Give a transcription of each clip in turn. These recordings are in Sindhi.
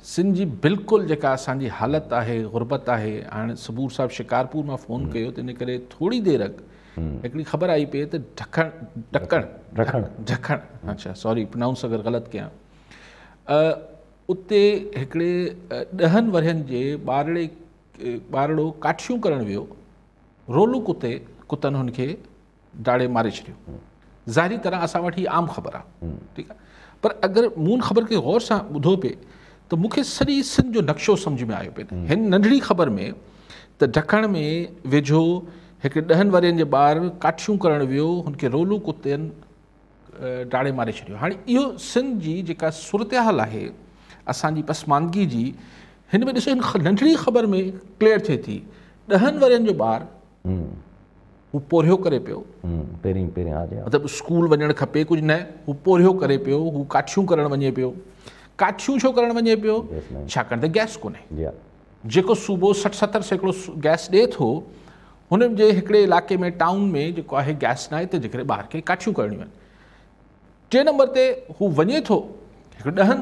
سنڌ جي بلڪل جيڪا اسان جي حالت آهي غربت آهي هاڻي صبور صاحب شڪارپور مان فون ڪيو تنهن ڪري ٿوري دير اڳ هڪڙي خبر آئي پئي ته ڍڪڻ ڍڪڻ ڍڪڻ ڍڪڻ اچا سوري پرنائونس اگر غلط ڪيان اتي هڪڙي ڏهن ورهين جي ٻارڙي ٻارڙو ڪاٺيون ڪرڻ ويو رولو ڪتي ڪتن هن کي ڊاڙي ماري ڇڏيو ظاهري طرح اسان وٽ هي عام خبر آ ٺيڪ آ پر اگر مون ان خبر کي غور سان ٻڌو پي ته مون کي سڄي سنڌ جو نقشو سمجھ ۾ آيو پي هن ننڍڙي خبر ۾ ته ڍڪڻ ۾ ويجهو هڪ ڏهن ورهين جي ٻار ڪاٺيون ڪرڻ ويو هن کي رولو ڪتن ڊاڙي ماري ڇڏيو هاڻي اهو سنڌ جي جيڪا صورتحال آهي اسان جي پسماندگي جي هن ۾ ڏسو هن ننڍڙي خبر ۾ ڪليئر ٿئي ٿي ڏهن ورهين جو ٻار هو پورهيو ڪري پيو. پهرين پهرين ها جي ها. مطلب اسڪول وڃڻ کپي ڪجهه نه هو پورهيو ڪري پيو هو ڪاٺيون ڪرڻ وڃي پيو ڪاٺيون ڇو ڪرڻ وڃي پيو ڇاڪاڻ ته گئس ڪونهي جي ها جيڪو صوبو سٺ ستر سيڪڙو گئس ڏي ٿو هن جي هڪڙي علائقي ۾ ٽائون ۾ جيڪو آهي گئس نه آهي ته جيڪڏهن ٻاهر کي ڪاٺيون ڪرڻيون آهن ٽي نمبر تي هو وڃي ٿو هڪ ڏهن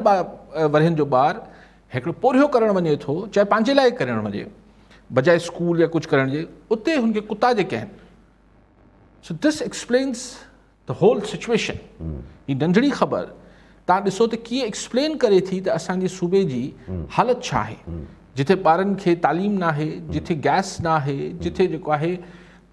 ورهين جو ٻار هڪڙو پورهيو ڪرڻ وڃي ٿو چاهي پنهنجي لاء ڪرڻ وڃي بجاء اسڪول يا ڪجهه ڪرڻ جي اتي هن کي ڪتا جيڪي آهن سو دس ايڪسپلينس ته هول سچويشن هي ننڍڙي خبر تان ڏسو ته ڪيئن ايڪسپلين ڪري ٿي ته اسان جي صوبي جي حالت ڇا آهي جتي ٻارن کي تعليم ناهي جتي گئس ناهي جتي جيڪو آهي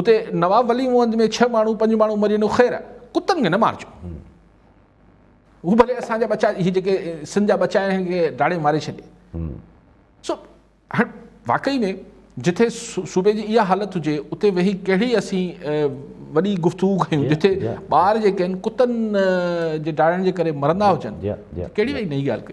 اتي نواب ولي محمد ۾ ڇهه ماڻهو پنج ماڻهو مري وڃو خير ڪتن کي نه مارجو هو ڀلي اسان جا بچا هي جيڪي سنڌ جا بچا آهن کي ڊاڙي ماري ڇڏي سو هاڻ واقعي ۾ جتي صوبي جي اها حالت هجي اتي ويهي ڪهڙي اسين وڏي گفتگو ڪيون جتي ٻار جيڪي آهن ڪتن جي ڊاڙن جي ڪري مرندا هجن ڪهڙي وئي نئي ڳالهه ڪئي